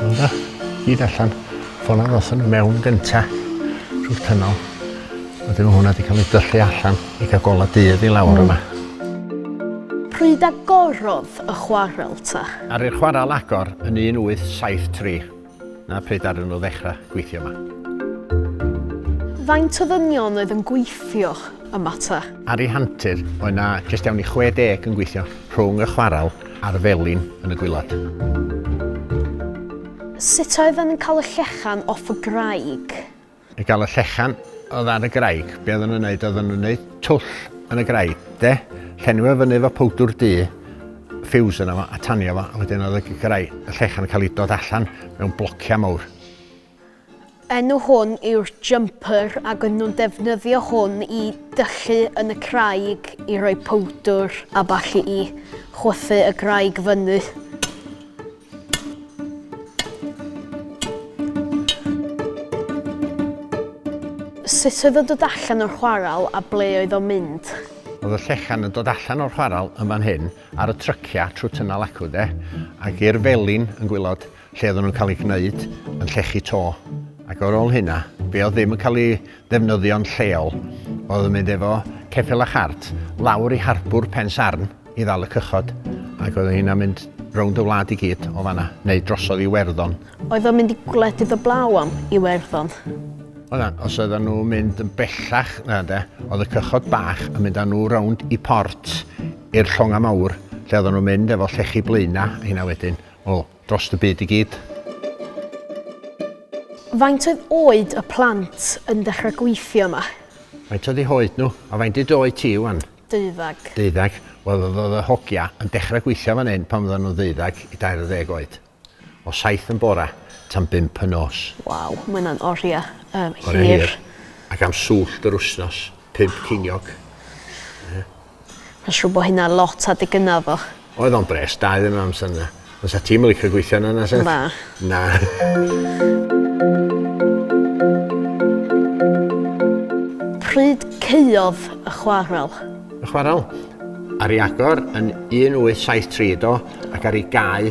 Ynda, gyd allan. Ffona ddothon nhw mewn gynta trwy'r tynol. Wedyn mae hwnna wedi cael ei dyllu allan i gael gola dydd i lawr yma. Pryd agorodd y chwarel ta? Ar i'r chwarel agor yn 1873. na pryd ddaru nhw ddechrau gweithio yma. Faint o ddynion oedd yn gweithio yma ta? Ar ei hantur, oedd na jyst iawn i 60 yn gweithio rhwng y chwarel a'r felin yn y gwylod. Sut oedden nhw'n cael y llechan off y graig? I gael y llechan oedd ar y graig, be oedden nhw'n neud, oedden nhw'n neud twll yn y graig, de? Llenwi fo fyny efo powdwr du, ffiws yna fo, a tanio fo, a wedyn oedd y graig, y llechan yn cael ei dod allan mewn blociau mawr. Enw hwn yw'r jumper ac yn nhw'n defnyddio hwn i dyllu yn y craig i roi powdwr a ballu i chwythu y graig fyny. Sut oedd o'n dod allan o'r chwarel a ble oedd o'n mynd? Oedd y llechan yn dod allan o'r chwarel yn fan hyn ar y tryciau trwy Tynnal Acw de, ac i'r felin yn gwylod lle oedden nhw'n cael ei gwneud yn llechu to. Ac ar ôl hynna, be oedd ddim yn cael ei ddefnyddion lleol oedd yn mynd efo ceffyl a chart lawr i harbwr Pen Sarn i ddal y cychod ac oedd hynna'n mynd rownd y wlad i gyd o fanna, neu drosodd i Iwerddon. Oedd o'n mynd i gwledydd y blaw am Iwerddon? Oedd o'n, os oedden nhw'n mynd yn bellach na de, oedd y cychod bach yn mynd â nhw rownd i port i'r llongau mawr lle oedden nhw'n mynd efo llechi blaenau hynna wedyn. Wel, Dros y byd i gyd. Faint oedd oed y plant yn dechrau gweithio yma? Faint oedd eu hoed nhw? A faint dy oed ti ŵan? Deuddeg. Deuddeg. Wel oedd oedd y hogia yn dechrau gweithio fan hyn pan oedden nhw'n ddeuddeg i dair ar ddeg oed. O saith yn bora tan bump y nos. Waw, mae hwnna'n oriau um, hir. Oriau hir. Ac am swllt yr wsnos, pump ceiniog. Ie. Ma'n siŵr bo hynna lot adeg gynna odd o. Oedd o'n bres da iddyn nhw amser 'na. Fysa ti'm yn licio gweithio yna na 'set? Na. Na. Pryd caeodd y chwarel? Y chwarel? Ar ei agor yn 1873 do ac ar ei gau